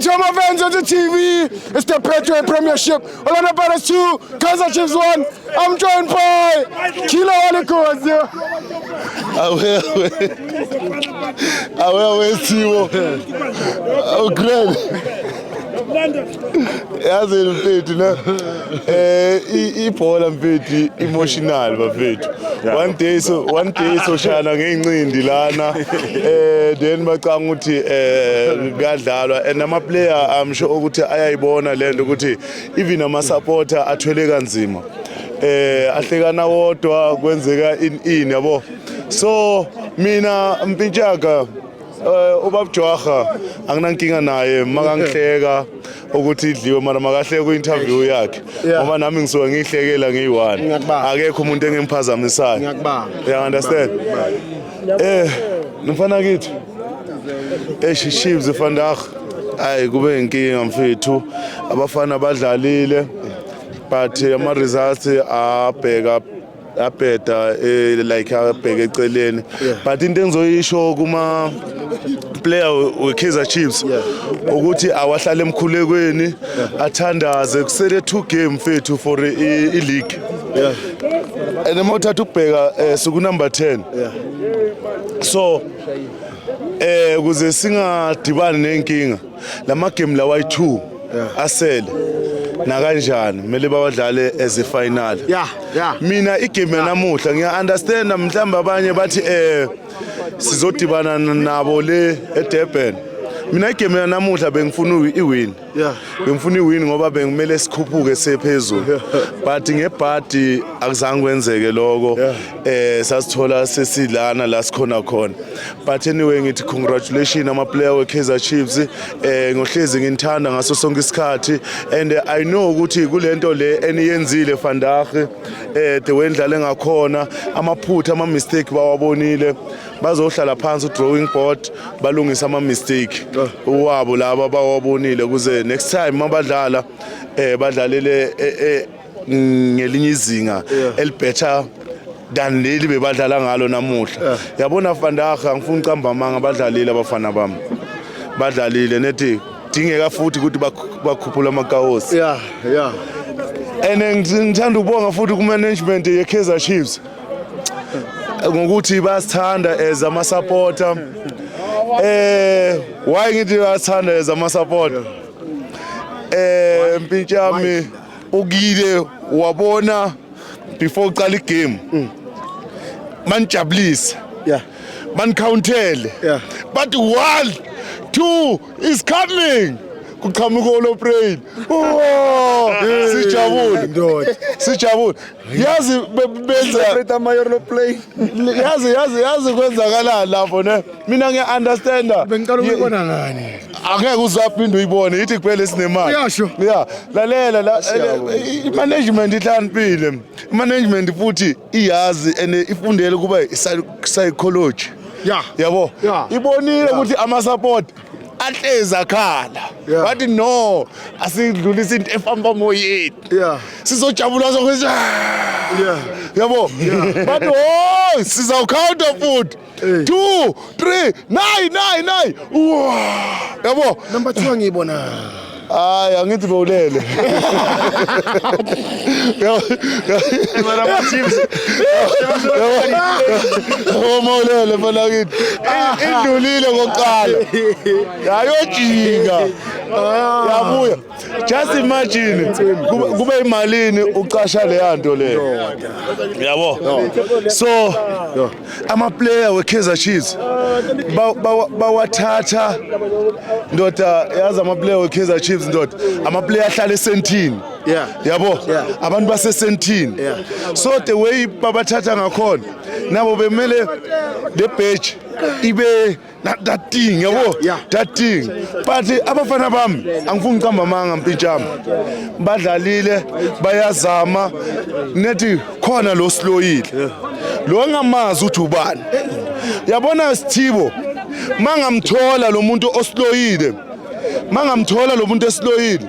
Chama Vans on the TV. It's the Petro Premiership. Orlando Pirates 2, Kaizer Chiefs 1. I'm joined by Kilo Alikozi. Awewe. Awewe Siwo. Oh, great. yazi mfethu ne eh ibhola mfethu emotional bafethu one day so one day so shana ngeinqindi lana eh then bacanga ukuthi eh kuyadlalwa and ama player i'm sure ukuthi ayayibona lento ukuthi even ama supporter athwele kanzima eh ahlekana wodwa kwenzeka in in yabo so mina mpintshaka Eh ubab Jwaha anginankinga naye makangihleka ukuthi idliwe mara makahleke ku interview yakhe ngoba nami ngisuka ngihlekela ngiyi-one akekho umuntu engimphazamisayo you understand eh mfana kithi eish chiefs vandag hayi kube inkinga mfethu abafana badlalile but ama results abheka abheda eh, like abheke eceleni but into engizoyisho kuma player weKaizer Chiefs ukuthi awahlale emkhulekweni athandaze kusele two game fethu for i-league and uma uthatha ukubheka eh, suku number 10 so eh kuze singadibani nenkinga lama game lawa yi2 asele nakanjani kumele bawadlale as a final yeah yeah mina igame namuhla ngiya understand mhlamba abanye bathi eh sizodibana nabo le eDurban mina igame yanamuhla bengifuna iwin yeah bengifuna iwin ngoba bengimele sikhuphuke sephezulu but ngebhadi akuzange kwenzeke lokho eh sasithola sesilana la sikhona khona but anyway ngithi congratulations ama player we Kaizer Chiefs eh ngohlezi nginithanda ngaso sonke isikhathi and eh, i know ukuthi kulento le eniyenzile vandag eh the way ndlale ngakhona amaphutha ama mistake bawabonile bazohlala phansi drawing board balungisa ama mistake wabo laba bawabonile kuze next time mabadlala eh badlalele eh, eh, ngelinye izinga elibetter than leli bebadlala ngalo namuhla yabona fandaha angifuni ucamba amanga badlalile abafana bami badlalile nethi kudingeka futhi ukuthi bakhuphule amakawosi yeah yeah and ngithanda ukubonga futhi kumanagement yeKaizer Chiefs ngokuthi basithanda as ama supporter eh why ngithi basithanda as ama supporter eh mpintshami ukile wabona before uqala igame mm. manijabulise yeah banicountele yeah but one two is coming kuqhamuka oloprayini sijabule sijabule yazi benza celebrate ama euro plane yazi yazi yazi kwenzakalani lapho ne mina ngiya understanda Bengicela ukuyibona ngani? angeke uzaphinde uyibone yithi kuphela esinemali Uyasho? ya lalela la eh, i management ihlaniphile i management futhi iyazi and ifundele kuba i psychology Yeah. yabo Yeah. ibonile ukuthi ama support ahlezi akhala Yeah. wathi no asidlulisa into efamba emoyeni Yeah. sizojabula sokwenza Yeah. yabo bathi oh sizawukhawunta futhi Eh. two three nine nine nine Uwa. yabo Number 2 angiyibona. Hayi angithi bowulele. Mara ma chips. Uma ulele mfana kithi. Indlulile kokuqala. Yayojika. Yabuya. Just imagine kube imalini ucasha leyanto le. Yabo. So amaplayer we-kaizer chiefs bawathatha ndoda yazi amaplayer we-kaizer chiefs ndoda amaplayer ahlala esentini yabo abantu basesentini so the way babathatha ngakhona nabo bemele le bheji ibe That, that thing, yabo, yeah, yeah. that thing. But eh, abafana bami angifuni uqamba amanga mpintshami. Badlalile, bayazama nethi khona lo sloyile. Lo ngamazi uthi ubani. Yabona Sithibo, mangamthola lo muntu osloyile. Mangamthola lo muntu esloyile.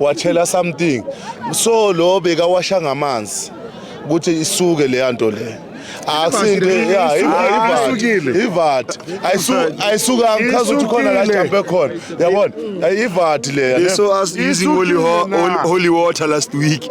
watshela something so lo bekawasha ngamanzi ukuthi isuke leya nto le asinte ya ivati ivati ayisuka ngichaza ukuthi khona la jambe khona yabona ivati leya so as using holy, holy water last week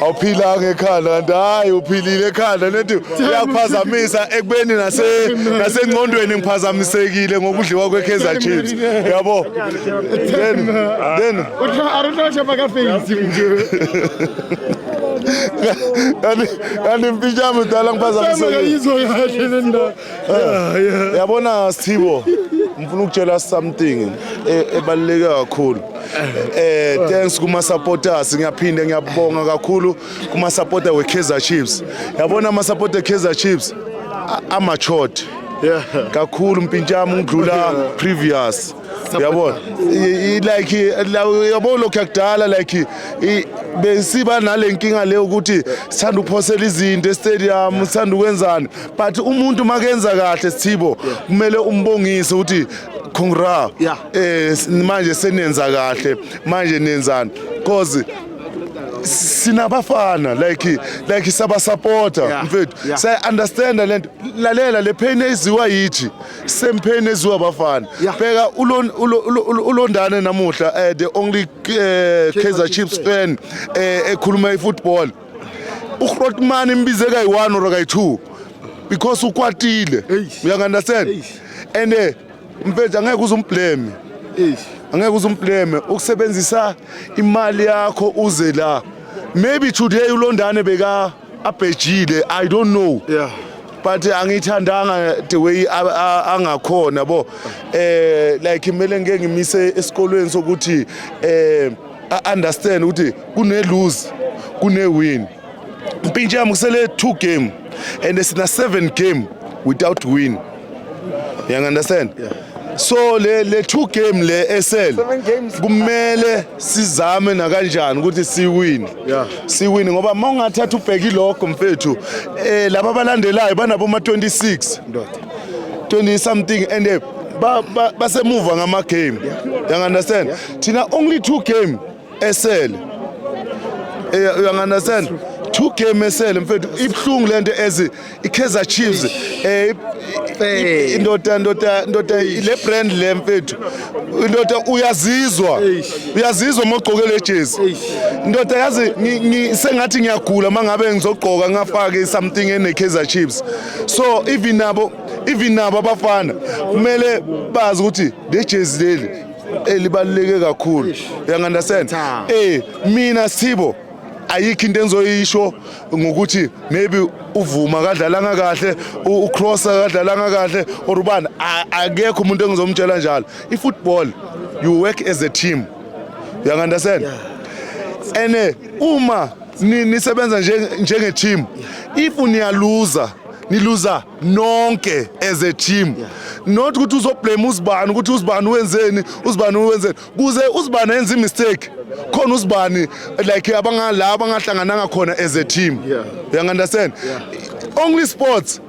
awuphilanga ekhanda kanti hayi uphilile ekhanda nethi uyakuphazamisa ekubeni nasengqondweni ngiphazamisekile ngokudliwa kwe-kaizer chiefs yabo then then kanti mfishami udala ngiphazamisekile Eh, yabona Sthibo ngifuna ukutshela something e- ebaluleke kakhulu eh thanks kuma supporters ngiyaphinde ngiyabonga kakhulu kuma supporter we Kaizer Chiefs yabona ama supporter Kaizer Chiefs a- ama short kakhulu mpintshami ngidlula previous yabona I- i- like la- yabo lokho yakudala like i- besiba nalenkinga leyo ukuthi sithanda ukuphosela izinto estadium sithanda ukwenzani but umuntu makenza kahle sithibo kumele umbongise ukuthi congra yeah. eh manje senenza kahle manje nenzani cause sinabafana like like sabasupporter yeah. mfethu yeah. saya understand lento lalela le pain eziwa yithi same pain eziwa abafana yeah. bheka ulondane namuhla uh, the only uh, Kaizer Chiefs fan uh, ekhuluma ifootball uRotman imbize kayi-1 or kayi-2 because ukwatile uyangandastand and eh, mfethu angeke uze umbleme angeke uze umbleme ukusebenzisa imali yakho uze la maybe today ulondane beka abhejile i don't know yeah but angithandanga the way angakhona bo eh like kumele ngeke ngimise esikolweni sokuthi eh a understand ukuthi kune lose kune win impintsha yami kusele two game and sina seven game without win you understand yeah. so le le two game le esel kumele sizame nakanjani ukuthi siwin yeah. siwin ngoba uma ungathatha ubheki lokho mfethu eh laba balandelayo banabo ma 26 ndoda 20 something and eh, basemuva ngama game yeah. you understand yeah. thina only two game esele eh, uyanganasela two game esele mfethu ibuhlungu lento as iKaizer Chiefs eh indoda indoda indoda le brand le mfethu indoda uyazizwa uyazizwa mogqoke le jezi indoda yazi sengathi ngiyagula mangabe ngizogqoka ngafake something ene Kaizer Chiefs so even nabo even nabo abafana kumele bazi ukuthi le jezi leli elibaluleke kakhulu uyangandastand eh mina Sithibo ayikho into engizoyisho ngokuthi maybe uvuma kadlalanga kahle ucrossa kadlalanga kahle or ubani akekho umuntu engizomtshela njalo ifootball you work as a team you understand and eh, uma nisebenza njenge team if niyaluza niluza nonke as a team not ukuthi uzoblame uzibani ukuthi uzibani wenzeni uzibani wenzeni kuze uzibani enze imistake khona uzibani like abangala abangahlangananga khona as a team yeah. you understand yeah. only sports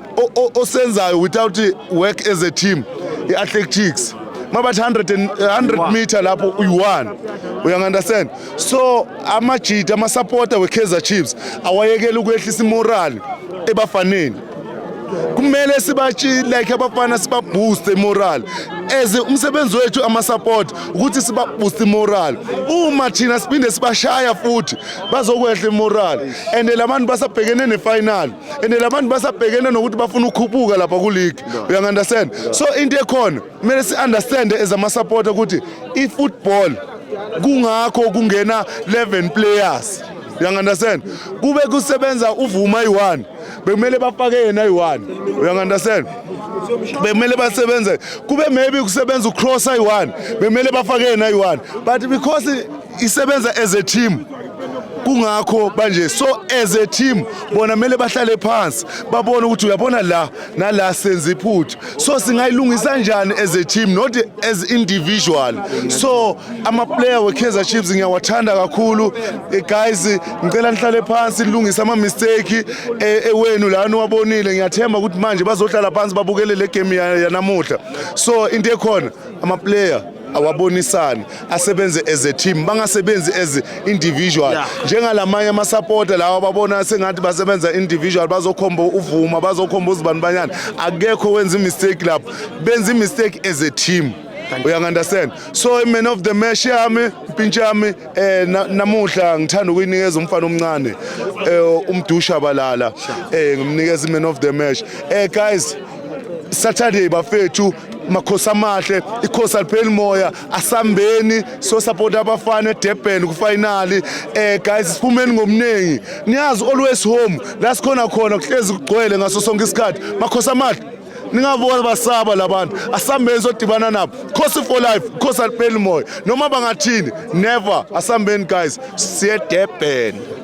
osenzayo without work as a team i-athletics mabathi 100 meter lapho uyi-one uyangu-understand so amajita amasapota we-kaizer chiefs awayekela ukwehlisa imorali ebafaneni kumele sibathi like abafana sibabooste moral as umsebenzi wethu ama-support ukuthi sibabooste moral uma thina siphinde sibashaya futhi bazokwehla imoral and la bantu basabhekene nefinal and la bantu basabhekene nokuthi bafuna ukukhuphuka lapha kuligi uyangu-understand so into ekhona kumele si-understande as ama-support ukuthi i-football kungakho kungena 11 players uyangu-understand kube kusebenza uvuma yi-one bekumele bafake yena ayi-one uyangandastand bekumele basebenze kube maybe kusebenza ucross ayi-one bekumele bafake yena ayi-one but because isebenza as a team kungakho banje so as a team bona kumele bahlale phansi babone ukuthi uyabona la nala senza iphutha so singayilungisa njani as a team not as individual so amaplayer we-kaizer chiefs ngiyawathanda kakhulu eh, guys ngicela nihlale phansi nilungise ama-mistake eh, ewenu lani wabonile ngiyathemba ukuthi manje bazohlala phansi babukele le game yanamuhla so into ekhona amaplayer awabonisane asebenze as a team bangasebenzi as individual yeah. njengalamanye amasapota lawa ababona sengathi basebenza individual bazokhomba uvuma bazokhomba uzibani banyana akekho wenza imistake lapho benza imistake as a team uyangunderstand so man of the match yami impintsha yami eh namuhla ngithanda ukuyinikeza umfana omncane eh umdusha balala eh ngimnikeza man of the match eh guys Saturday bafethu makhosi amahle ikhosi alipheli moya asambeni so support abafana eDurban kufinali eh guys siphumeni ngomningi niyazi always home la sikhona khona kuhlezi kugcwele ngaso sonke isikhathi makhosi amahle ningabona basaba labantu asambeni sodibana nabo khosi for life khosi alipheli moya noma bangathini never asambeni guys siye Durban